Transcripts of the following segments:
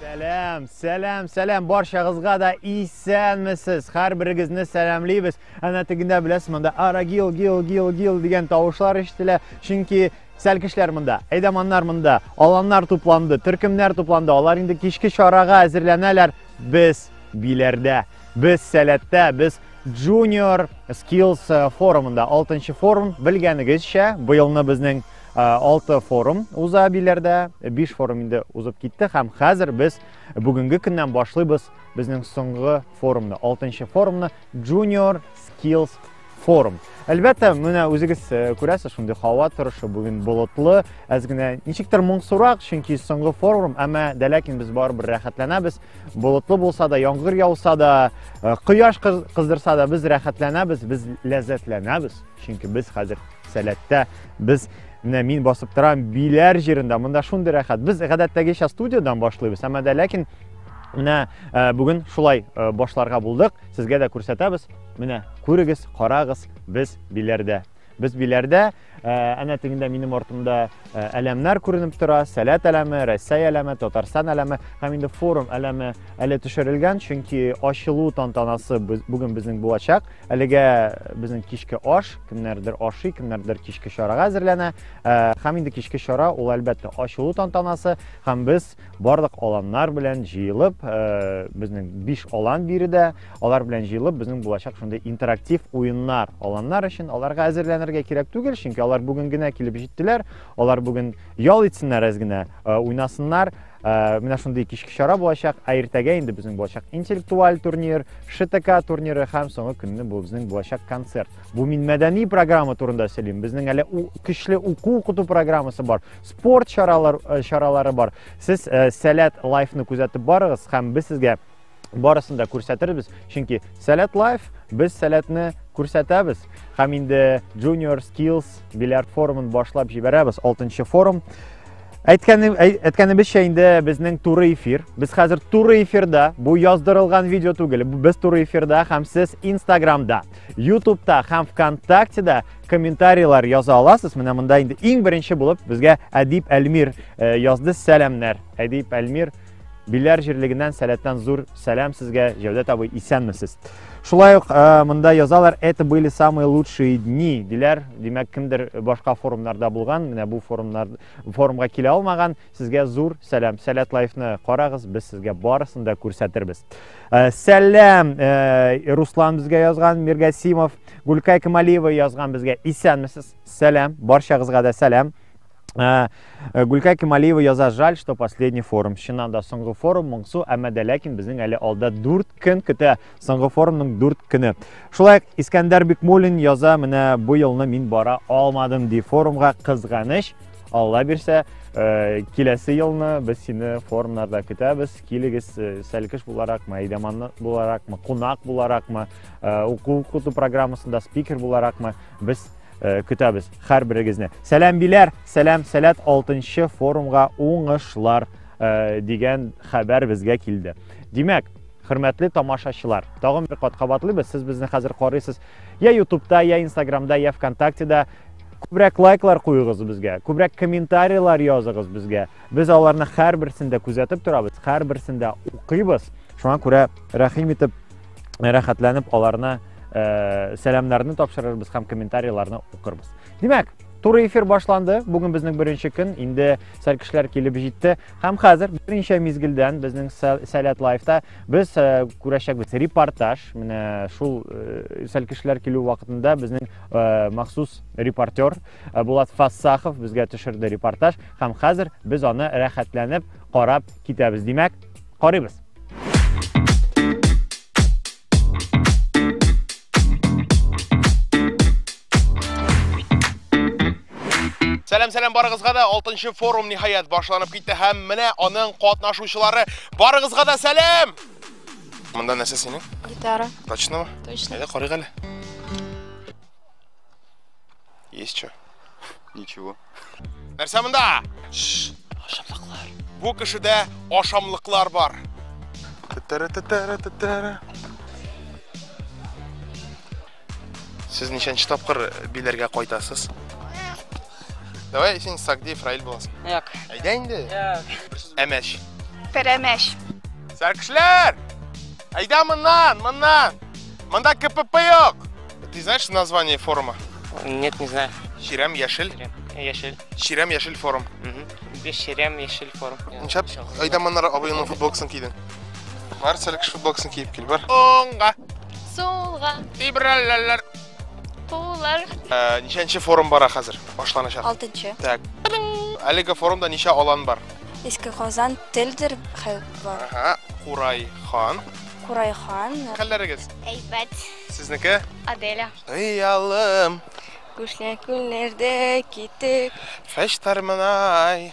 Сәләм, сәләм, сәләм, баршагызга да исәнмесез. Хәр берегезне сәламлибез. Әнә тегендә беләсез, монда арагил, гил, гил, гил дигән тавышлар ишетелә. Чөнки Сәлкешләр монда, әйдаманнар монда, аланнар тупланды, төркемнәр тупланды, алар инде кичке чарага әзерләнәләр. Без биләрдә, без сәләттә, без Junior Skills э, форумында, 6 форум, белгәнегезчә, быелны безнең 6 э, форум уза биләрдә, 5 форум инде узып китте һәм хәзер без бүгенге көннән башлыйбыз безнең соңгы форумны, 6 форумны Junior Skills форум. Әлбәттә, менә үзегез э, күрәсез, шундый һава торышы бүген болытлы, әз генә ничектер моңсурак, чөнки соңгы форум, әмма дә ләкин без барыбер рәхәтләнәбез. Болытлы булса да, яңгыр яуса да, э, кояш кыздырса да, без рәхәтләнәбез, без ләззәтләнәбез, чөнки без хәзер сәләттә, без менә мин басып торам биләр җирендә монда шундый рәхәт без гадәттәгечә студиядән башлыйбыз әмма дә ләкин Менә э, бүген шулай э, башларга булдык. Сезгә дә күрсәтәбез. Менә, күрегез, карагыз, без биләрдә. Без биләрдә, ә, әнә тегендә минем артымда ә, әләмнәр күренеп тора, сәләт әләме, Рәсәй әләме, Татарстан әләме һәм инде форум әләме әле төшерелгән, чөнки ачылу тантанасы бүген безнең булачак. Әлегә безнең кичке аш, кемнәрдер ашый, кемнәрдер кичке чарага әзерләнә. Ә, һәм инде кичке чара ул әлбәттә ачылу тантанасы һәм без барлык аланнар белән җыелып, э, безнең биш алан биредә, алар белән җыелып, безнең булачак шундый интерактив уеннар, аланнар өчен аларга әзерләнергә кирәк түгел, чөнки алар бүген генә килеп җиттеләр, алар бүген ял итсеннәр әз генә, э, уйнасыннар, э, менә шундый кичке чара булачак, ә иртәгә инде безнең булачак интеллектуаль турнир, ШТК турниры һәм соңгы көнне бу безнең булачак концерт. Бу мин мәдәни программа турында сөйлим, безнең әле көчле уку-укыту программасы бар. спорт чаралар, э, чаралары бар. Сез э, Сәләт лайфны күзәтеп барыгыз һәм без сезгә барысын да күрсәтербез. Чөнки Сәләт лайф без сәләтне күрсәтәбез һәм инде Junior Skills бильярд форумын башлап җибәрәбез. 6 форум. Әйткәнем әйткәнебезчә инде безнең туры эфир. Без хәзер туры эфирда. Бу яздырылган видео түгел. Без туры эфирда һәм сез Инстаграмда, Ютубта һәм ВКонтактеда комментарийлар яза аласыз. Менә монда инде иң беренче булып безгә Әдип Әлмир э, язды сәламнәр. Әдип Әлмир Биләр җирлегеннән сәләттән зур сәлам сезгә, Җәүдәт абый, исәнмесез. Шулай ук э, монда язалар, это были самые лучшие дни, диләр. Димәк, кемдер башка форумнарда булган, менә бу форумнар форумга килә алмаган, Сезгә зур сәлам. Сәләт лайфны карагыз, без сезгә барысын да күрсәтербез. Э, сәлам, э, Руслан безгә язган, Миргасимов, Гулькай Камалиева язган безгә. Исәнмесез. Сәлам, барчагызга да сәлам. Э, Гулькай Камалиева яза, жаль, что последний форум. Чыннан да соңгы форум моңсу, әмма дә ләкин безнең әле алда 4 көн көтә. Соңгы форумның 4 көне. Шулай Искәндәр Бикмулин яза, менә бу елны мин бара алмадым ди форумга кызганыч. Алла бирсә, э, киләсе елны без сине форумнарда көтәбез. Килегез э, сәлкеш буларакмы, әйдәман буларакмы, кунак буларакмы, э, уку укыту программасында спикер буларакмы без көтәбез һәр берегезне. Сәлам биләр, сәлам сәләт 6 форумга уңышлар дигән хәбәр безгә килде. Димәк, хөрмәтле тамашачылар тагын бер кат кабатлыйбыз сез безне хәзер карыйсыз я ютубта я инстаграмда я вконтактеда Күбрәк лайклар куегыз безгә, күбрәк комментарийлар языгыз безгә. Без аларны һәрберсен дә күзәтеп торабыз, һәрберсен дә укыйбыз. Шуңа күрә рәхим итеп, рәхәтләнеп аларны э, сәламнарны тапшырырбыз һәм комментарийларны укырбыз. Димәк, Туры эфир башланды. Бүген безнең беренче көн. Инде сәл кешеләр килеп җитте. Һәм хәзер беренче мизгелдән безнең Сәләт лайфта без э, күрәчәкбез репортаж. Менә шул э, сәл кешеләр килү вакытында безнең Э, махсус репортер э, Булат Фассахов безгә төшерде репортаж һәм хәзер без аны рәхәтләнеп карап китәбез. Димәк, карыйбыз. Сәлам сәлам барыгызга да 6 форум ниһаять башланып китте һәм менә аның катнашучылары барыгызга да сәлам! Монда нәрсә синең? Гитара. Точно ма? Точно. Әйдә карыйк әле. Есть что? Ничего. Нәрсә монда? Ашамлыклар. Бу кешедә ашамлыклар бар. Тәтәрә тәтәрә тәтәрә. Сез ничәнче тапкыр биләргә кайтасыз? Давай син Сагдиев Раил буласың. Як. Әйдә инде. Як. Әмәш. Пәрәмәш. Сәркешләр! Әйдә моннан, моннан! Монда КПП юк! Ты знаешь название форума? Нет, не знаю. Чирәм яшел. Яшел. Чирәм яшел форум. Без Чирәм яшел форум. Ничәп? Әйдә моннан абыйның футболкасын кидең. Бар сәле кеш футболкасын киеп кил, бар. Оңга. Сулга. Либераллар. Кулар. Э, ничәнче форум бара хәзер? Башланачак. Алтынчы. Так. Әлеге форумда ничә алан бар? Иске Казан телдер бар. Ага. Курай хан. Курай хан. Хәлләрегез? Әйбәт. Сезнеке? Аделя. Хыялым. Күшле күлләрдә китек. Фәштар мынай.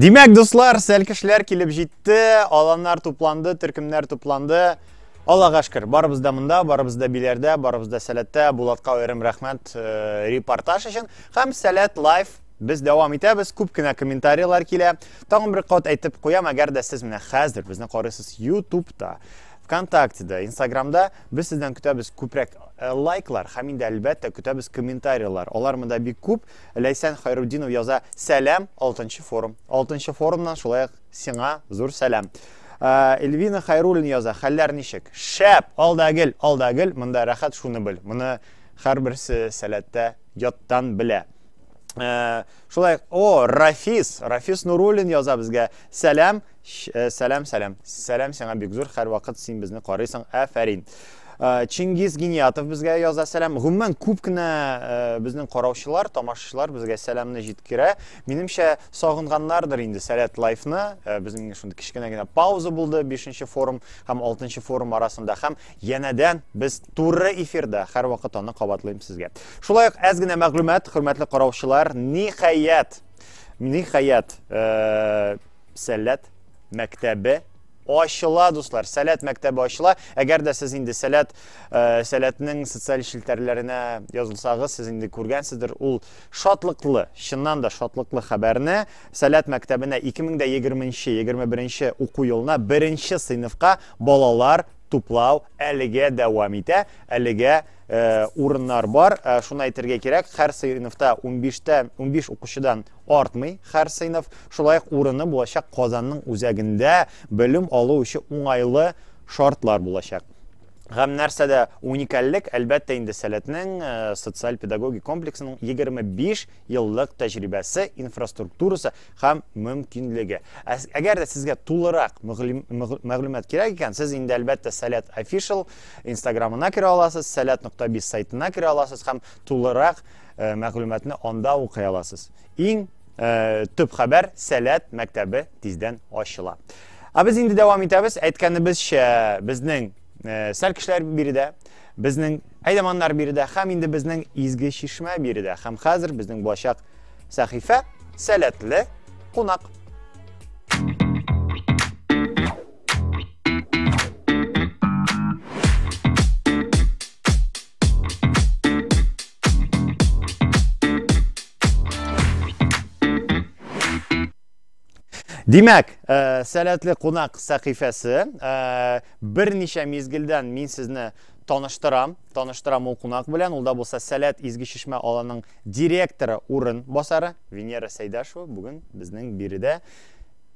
Димәк, дуслар, сәлкешләр килеп җитте, аланнар тупланды, төркемнәр тупланды. Аллага шөкер, барыбыз да монда, барыбыз да биләрдә, барыбыз да сәләттә. Булатка аерым рәхмәт э, репортаж өчен һәм Сәләт Лайф Без дәвам итәбез, күп кенә комментарийлар килә. Тагын бер кат әйтеп куям, әгәр дә сез менә хәзер безне карыйсыз YouTube'та, ВКонтактеда, Инстаграмда, без сездән көтәбез күбрәк э, лайклар һәм инде әлбәттә көтәбез комментарийлар. Алар монда бик күп. Ләйсән Хайруддинов яза: "Сәлам, 6 форум. 6 форумнан шулай ук сиңа зур сәлам." Э, Эльвина Хайруллин яза: "Хәлләр ничек?" Шәп, алда гел, алда гел, монда рәхәт шуны бел. Моны һәрберсе сәләттә яттан белә. Э, шулай о рафис рафис нуруллин яза безгә сәлам э, сәлам сәлам сәлам сиңа бик зур һәрвакыт син безне карыйсың әфәрин э, чингиз гениятов безгә яза сәлам гомумән күп кенә безнең караучылар тамашачылар безгә сәламны җиткерә минемчә сагынганнардыр инде сәләт лайфны безнең шундый кечкенә генә пауза булды бишенче форум һәм алтынчы форум арасында һәм Янәдән без туры эфирда, һәрвакыт аны кабатлыйм сезгә. Шулай ук әз генә мәгълүмат, хөрмәтле караучылар, ниһаять, ниһаять, э, сәләт мәктәбе ачыла, дуслар. Сәләт мәктәбе ачыла. Әгәр дә сез инде сәләт э, сәләтнең социаль челтәрләренә язылсагыз, сез инде күргәнсездер ул шатлыклы, чыннан да шатлыклы хәбәрне. Сәләт мәктәбенә 2020-21 уку елына беренче сыйныфка балалар туплау әлегә дәвам итә. Әлегә э, урыннар бар. Э, шуны әйтергә кирәк, һәр сыйныфта 15-тә 15 укучыдан артмый һәр сыйныф. Шулай ук урыны булачак Казанның үзәгендә белем алу өчен уңайлы шартлар булачак. Гәм нәрсәдә уникальлек, әлбәттә инде Сәләтнең э, социаль-педагогик комплексының 25 еллык тәҗрибәсе, инфраструктурасы, һәм мөмкинлеге. Ә әгәр дә сезгә тулырак мәгълүмат кирәк икән, сез инде әлбәттә Сәләт Official инстаграмына керә аласыз, сәләт нокта биз сайтына керә аласыз һәм тулырак э, мәгълүматны анда укый аласыз. Иң э, төп хәбәр Сәләт мәктәбе тиздән ачыла. Ә без инде дәвам итәбез. Әйткәнебезчә, безнең э, сәл кешеләр биредә, безнең әйдәманнар биредә һәм инде безнең изге чишмә биредә. Һәм хәзер безнең булачак Сәхифә, сәләтле кунак. Димәк, ә, э, сәләтле кунак сәхифәсе, ә, э, берничә мизгелдән мин сезне таныштырам, таныштырам ул кунак белән, ул да булса Сәләт изге чишмә аланың Директоры урын басары Венера Сәйдашева бүген безнең биредә.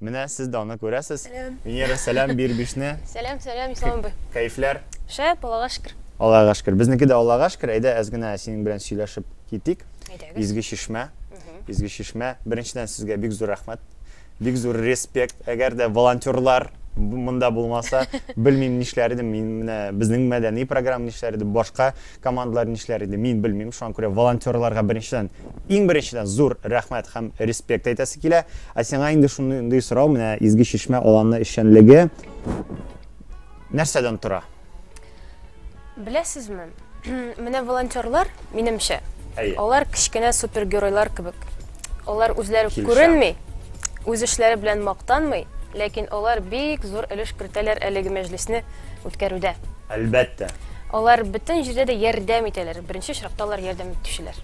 Менә сез дә аны күрәсез. Сәлам. Венера, сәлам, бир бишне. Сәлам, сәлам, Ислам абый. Кәефләр? Шәп, Аллага шөкер. Аллага шөкер. Безнеке дә Аллага шөкер. Әйдә, әз генә синең белән сөйләшеп китик. Әйдәгез. Изге чишмә. Изге чишмә. Беренчедән сезгә бик зур рәхмәт. Бик зур респект, әгәр дә волонтерлар монда булмаса, белмим нишләр идем мин, менә безнең мәдәни программа нишләр иде, башка командалар нишләр иде, мин белмим, шуңа күрә волонтерларга беренчедән, иң беренчедән зур рәхмәт һәм респект әйтәсе килә. Ә сиңа инде шундый сорау, менә Изге Чишмә аланы эшчәнлеге нәрсәдән тора? Беләсезме, менә волонтерлар, минемчә, Әйе. алар кечкенә супергеройлар кебек. Алар үзләре Килешәм. күренми, үз эшләре белән мактанмый, ләкин алар бик зур өлеш кертәләр әлеге мәҗлесне үткәрүдә. Әлбәттә. Алар бөтен җирдә дә ярдәм итәләр, беренче очракта алар ярдәм итүчеләр.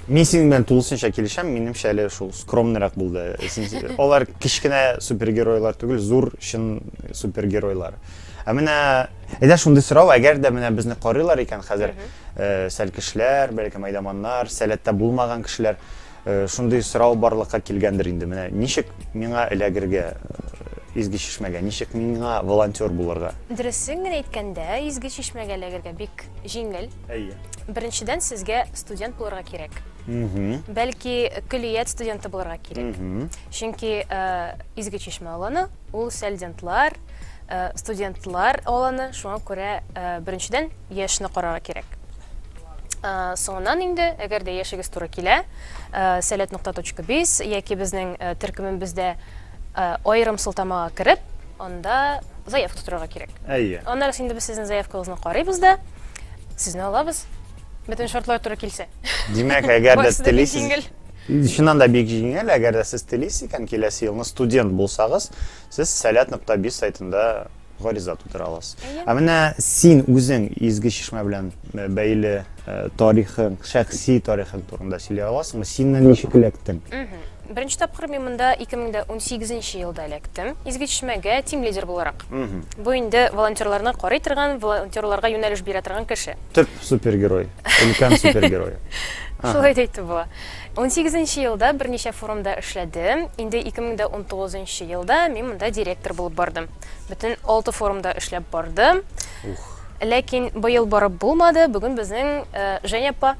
Мин синең белән тулысынча килешәм, минемчә әле шул скромныйрак булды. Алар кечкенә супергеройлар түгел, зур чын супергеройлар. Ә менә әйдә шундый сорау, әгәр дә менә безне карыйлар икән хәзер, э, сәл кешеләр, бәлки майдаманнар, сәләттә булмаган кешеләр, э, шундый сорау барлыкка килгәндер инде. Менә ничек миңа эләгергә э, изге чишмәгә, ничек миңа волонтер булырга? Дөресен генә әйткәндә, изге чишмәгә эләгергә бик җиңел. Әйе. Беренчедән, сезгә студент булырга кирәк. Бәлки, көллият студенты булырга кирәк. Чөнки э, Изге Чишмә аланы ул студентлар, э, студентлар аланы, шуңа күрә э, беренчедән яшьне карарга кирәк. Э, соңыннан инде әгәр дә яшегез туры килә э, сәләт нокта точка биз яки безнең э, төркемебездә Аерым сылтамага кереп, анда заявка тутырырга кирәк. Әйе. Аннары инде без сезнең заявкагызны карыйбыз да, сезне алабыз. Бөтен шартлар туры килсә. Димәк, әгәр дә телисез, Чыннан да бик җиңел, әгәр дә сез телисез икән, киләсе елны студент булсагыз, сез сәләт нокта биз сайтында гариза тутыра аласыз. Ә менә син үзең Изге Чишмә белән э, бәйле э, тарихың, шәхси тарихың турында сөйли аласыңмы? Синнән ничек эләктең? Беренче тапкыр мин монда 2018 елда эләктем. Изге Чишмәгә тим лидер буларак. Бу инде волонтерларны карый торган, волонтерларга юнәлеш бирә торган кеше. Төп супергерой, өлкән супергерой. Шулай да әйтеп була. Унсигез нче елда берничә форумда эшләдем. Инде ике мең дә унтугыз нчы елда мин монда директор булып бардым. Бөтен алты форумда эшләп бардым. Ух! Ләкин быел барып булмады, бүген безнең Женя апа,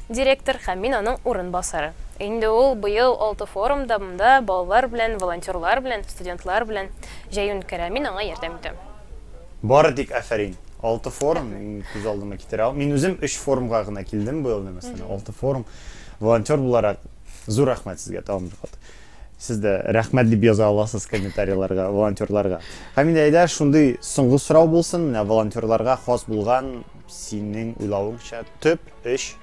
директор һәм мин аның урын басары. Инде ул быел алты форумда монда балалар белән, волонтерлар белән, студентлар белән җәен үткәрә, мин аңа ярдәм итәм. Бары тик афәрин. Алты форум, мин күз алдыма китерә алмыйм. Мин үзем өч форумга гына килдем быел, мәсәлән, алты форум. Волонтер буларак, зур рәхмәт сезгә тагын бер кат. Сез дә рәхмәт дип яза аласыз комментарийларга, волонтерларга. Һәм инде әйдә, шундый соңгы сорау булсын, менә волонтерларга хас булган, синең уйлавыңча, төп өч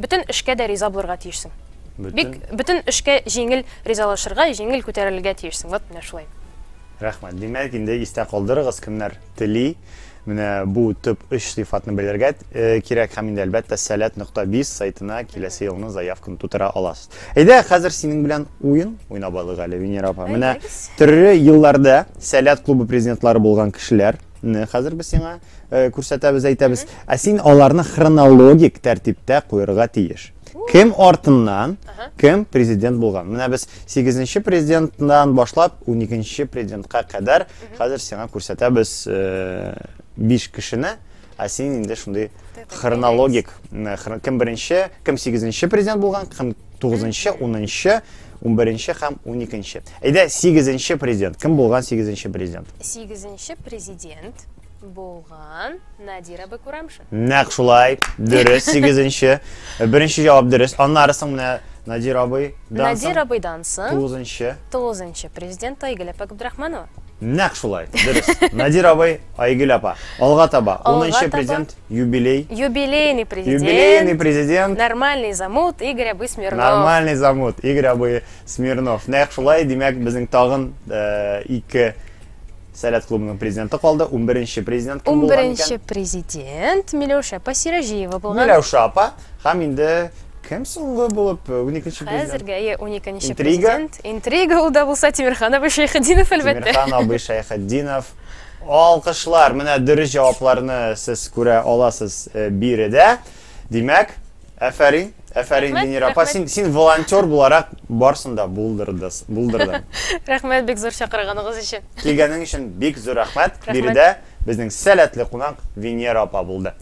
Бөтен эшкә дә риза булырга тиешсең. Бик бөтен эшкә җиңел ризалашырга, җиңел күтәрелергә тиешсең. Вот менә шулай. Рәхмәт. Димәк, инде истә калдырыгыз, кемнәр тели, менә бу төп өч сыйфатны белергә кирәк һәм инде, әлбәттә, Сәләт нокта биз сайтына киләсе елны заявканы тутыра аласыз. Әйдә, хәзер синең белән уен уйнап алыйк әле, Венера апа. Менә төрле елларда Сәләт клубы президентлары булган кешеләрне хәзер без сиңа э, күрсәтәбез, әйтәбез. Ә син аларны хронологик тәртиптә куярга тиеш. Кем артыннан, кем президент булган. Менә без 8-нче президенттан башлап 12-нче президентка кадәр хәзер сиңа күрсәтәбез 5 э, кешене, ә син инде шундый хронологик, кем беренче, кем 8-нче президент булган, кем Тугызынчы, унынчы, унберенче һәм уникенче. Әйдә, сигезенче президент. Кем булган сигезенче президент? Сигезенче президент булган Надира Бекурамшин. Нәк шулай, дөрес, сигезенче. Беренче җавап дөрес. Аннары соң менә Надир абый. Надир абыйдан соң. Тугызынчы. Тугызынчы президент Айгөл Апагабдрахманова. Нәкъ шулай, дөрес. Надир абый, Айгөл апа, алга таба. Алга Унынчы таба. президент, юбилей. Юбилейный президент. Юбилейный президент. Нормальный замут Игорь абый Смирнов. Нормальный замут Игорь абый Смирнов. Нәкъ шулай, димәк, безнең тагын э, ике Сәләт клубының президенты калды. 11-нче президент кем булган икән? 11-нче президент Миләүшә апа Сираҗиева булган. Миләүшә апа, Һәм инде кем соңгы булып уникенче президент? Хәзергә е уникенче Интрига? президент. Интрига ул да булса Тимирхан абый Шәйхетдинов әлбәттә. Тимирхан абый Шәйхетдинов. Алкышлар, менә дөрес җавапларны сез күрә аласыз э, биредә. Димәк, әфәрин, әфәрин, Венера апа, син, син волонтер буларак барсын да булдырдыс, булдырдың. Рәхмәт бик зур чакырганыгыз өчен. Килгәнең өчен бик зур рәхмәт. Биредә безнең сәләтле кунак Венера апа булды.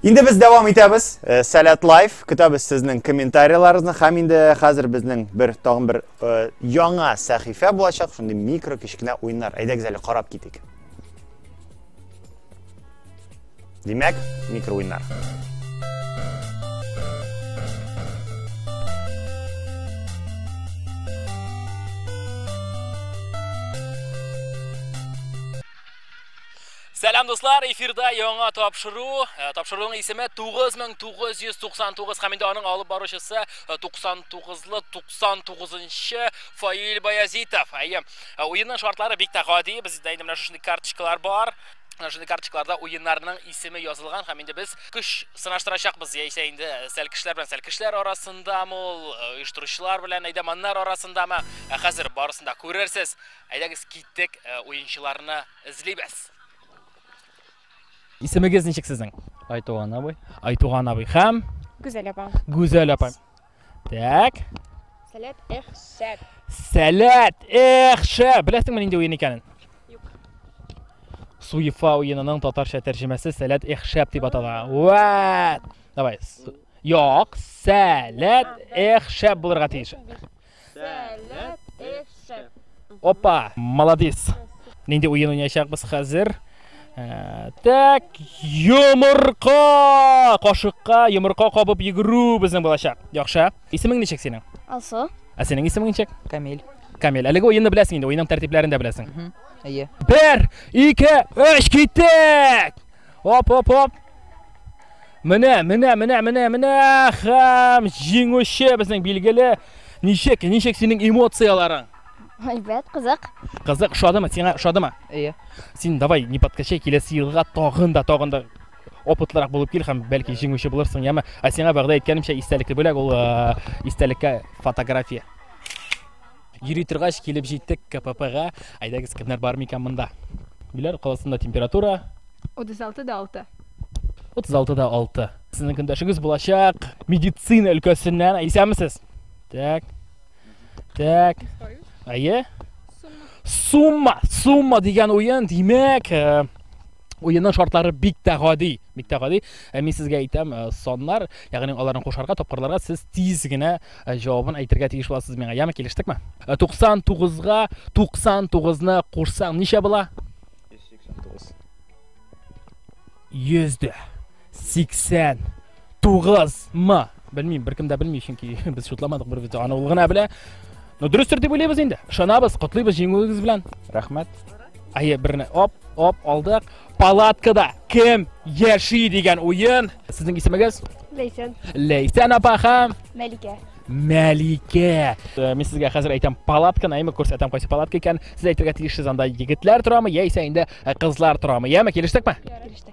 Инде без дәвам итәбез. Э, Сәләт лайф. Көтәбез сезнең комментарийларыгызны. Хәм инде хәзер безнең бер тагын бер э, яңа сәхифә булачак. Шундый микро кечкенә уеннар. Әйдәгез әле карап китик. Димәк, микро уеннар. Сәлам дуслар, эфирда яңа тапшыру. Э, тапшыруның исеме 9999 һәм инде аның алып баручысы 99-лы э, 99-нчы Фаил Баязитов. Әйе, э, уенның шартлары бик тә гади. Бездә инде менә шушындый карточкалар бар. Шундый карточкаларда уеннарның исеме язылган һәм инде без көч сынаштырачакбыз. Яисә инде сәл кешеләр белән сәл кешеләр арасындамы ул, оештыручылар белән әйдәманнар арасындамы? Хәзер барысын да күрерсез. Әйдәгез киттек, э, уенчыларны эзлибез. Исемегез ничек сезнең? Айтуган абый. Айтуган абый һәм Гүзәл апа. Гүзәл апа. Так. Сәләт эх шәп. Сәләт эх шәп. Беләсеңме нинди уен икәнен? Юк. Суефа уенының татарча тәрҗемәсе Сәләт эх шәп дип атала. Вәт! Давай. Юк, сәләт эх шәп булырга тиеш. Опа, молодец. Нинди уен уйнашакбыз хәзер? Э, так, йомырка! Кашыкка йомырка кабып йөгерү безнең булачак. Яхшы. Исемең ничек синең? Алсу. Ә синең исемең ничек? Камил. Камил, әлеге уенны беләсең инде, уенның тәртипләрен дә беләсең. Әйе. Бер, ике, өч, киттек! Оп, оп, оп. Менә, менә, менә, менә, менә хәм җиңүче безнең билгеле. Ничек, ничек синең эмоцияләрең? Әйбәт, кызык. Кызык, шадымы? Сиңа шадымы? Әйе. Син давай, не подкачай, киләсе елга тагын да, тагын да опытлырак булып кил һәм бәлки җиңүче булырсың, яме. Ә сиңа вәгъдә иткәнемчә истәлекле бүләк ул э, истәлеккә фотография. Йөри торгач килеп җиттек КППга. Әйдәгез, кемнәр бар микән монда? Биләр каласында температура 36 да 6. 36 да 6. Сезнең көндәшегез булачак медицина өлкәсеннән. Исәнмесез? Так. Так. Әйе? Сумма, сумма дигән уен, димәк, э, Уенның шартлары бик тә гади, бик тә гади. Ә мин сезгә әйтәм, э, саннар, ягъни аларны кушарга, тапкырларга сез тиз генә э, җавабын әйтергә тиеш буласыз миңа. Яме килештекме? 99-га э, 99-ны кушсаң ничә була? 189. 100 дә. 89 мы белмим беркем дә белми чөнки без шутламадык бер видео аны ул гына белә но дөрестер дип уйлыйбыз инде ышанабыз котлыйбыз җиңүегез белән рәхмәт әйе берне оп оп алдык палаткада кем яши дигән уен сезнең исемегез ләйсән ләйсән апа һәм мәликә Мәликә. Э, мин сезгә хәзер әйтәм палатканы, әйме күрсәтәм кайсы палатка икән. Сез әйтергә тиешсез анда егетләр торамы, яисә инде э, кызлар торамы. Яме, килештекме? Килештек.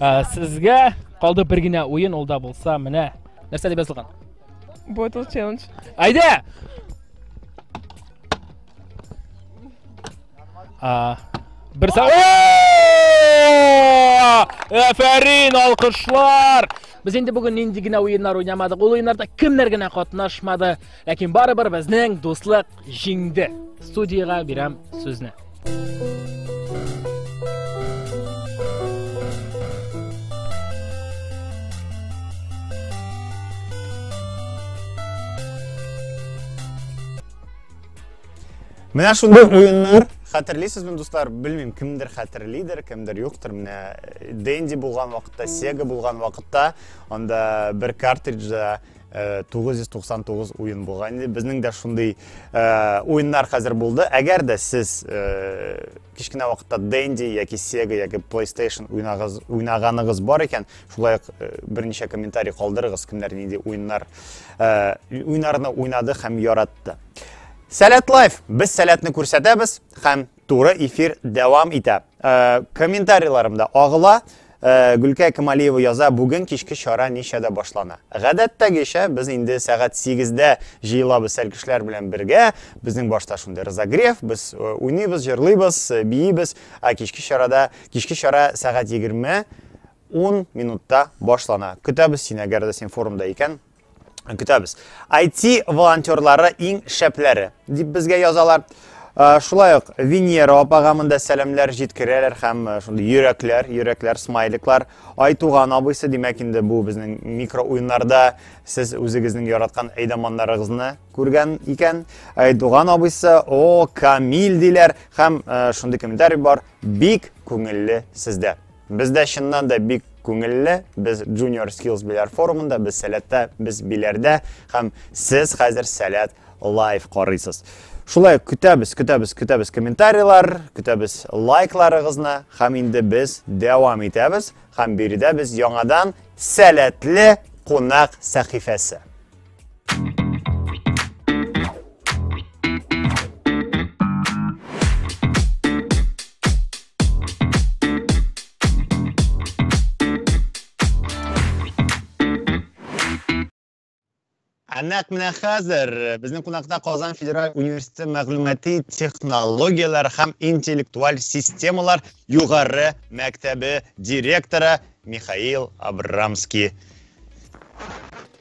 Ә, сезгә калды бер генә уен, ул да булса менә. Нәрсә дип язылган? Bottle challenge. Әйдә! А, бер са... Әфәрин, алкышлар! Без инде бүген нинди генә уеннар уйнамадык. Ул уеннарда кемнәр генә катнашмады. Ләкин барыбер безнең дуслык Җиңде. Студиягә бирәм сүзне. Менә шундый уеннар хәтерлисезме, дуслар? Белмим, кемдер хәтерлидер, кемдер юктыр. Менә э, Денди булган вакытта, Sega булган вакытта, анда бер картриджда 999 уен булган инде безнең дә шундый уеннар хәзер булды әгәр дә сез кечкенә вакытта денди яки сега яки playstation уйнагыз уйнаганыгыз бар икән шулай ук берничә комментарий калдырыгыз кемнәр нинди уеннар уйнарны уйнады һәм яратты сәләт лайф без сәләтне күрсәтәбез һәм Туры эфир дәвам итә. Э, комментарийларым да агыла. Э, Гөлкә Камалиева яза, бүген кичке чара ничәдә башлана? Гадәттәгечә, без инде сәгать 8-дә җыелабыз сәлкешләр белән бергә. Безнең башта шундый разогрев, без э, уйныйбыз, җырлыйбыз, э, биибез. Ә кичке чарада, кичке чара сәгать 20 10 минутта башлана. Көтәбез сине, әгәр дә син форумда икән, көтәбез. IT волонтерлары иң шәпләре дип безгә язалар. Шулай ук Венера апага монда сәламләр җиткерәләр һәм шундый йөрәкләр, йөрәкләр, смайликлар. Айтуган абыйсы, димәк инде бу безнең микро уеннарда сез үзегезнең яраткан әйдаманнарыгызны күргән икән. Айтуган абыйсы, о, Камил диләр һәм шундый комментарий бар, бик күңелле сездә. Бездә чыннан да бик күңелле, без Junior Skills Беләр форумында, без сәләттә, без Беләрдә һәм сез хәзер сәләт лайв карыйсыз. Шулай көтәбез, көтәбез, көтәбез комментарийлар, көтәбез лайкларыгызны һәм инде без дәвам итәбез һәм биредә без яңадан сәләтле кунак сәхифәсе. Әнәк менә хәзер э, безнең кунакта Казан федераль университеты мәгълүмати технологияләр һәм интеллектуаль системалар югары мәктәбе директоры Михаил Абрамский.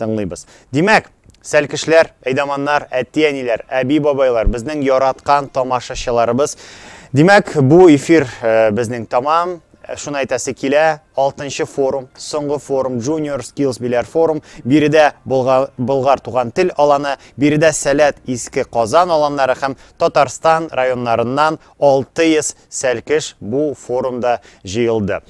Тыңлыйбыз. Димәк, сәлкешләр, әйдаманнар, әти-әниләр, әби-бабайлар, безнең яраткан тамашачыларыбыз. Димәк, бу эфир э, безнең тамам. Э, шуны әйтәсе килә, 6 форум, соңгы форум, Junior Skills Биләр форум, биредә Болгар туган тел аланы, биредә Сәләт иске Казан аланнары һәм Татарстан районнарыннан 600 сәлкеш бу форумда җыелды.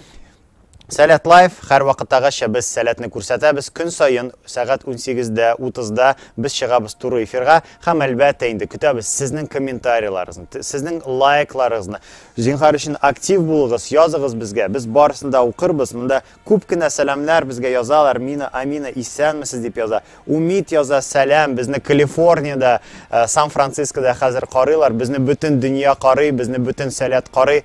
Сәләт Лайв, һәрвакыттагыча без Сәләтне күрсәтәбез, көн саен сәгать унсигездә утызда без чыгабыз туры эфирга һәм әлбәттә инде көтәбез сезнең комментарийларыгызны, сезнең лайкларыгызны. Зинхар өчен актив булыгыз, языгыз безгә, без барысын да укырбыз. Монда күп кенә сәламнәр безгә язалар, Мина, Амина, исәнмесез дип яза. Умит яза, сәлам, безне Калифорниядә, э, Сан-Францискода хәзер карыйлар, безне бөтен дөнья карый, безне бөтен Сәләт карый.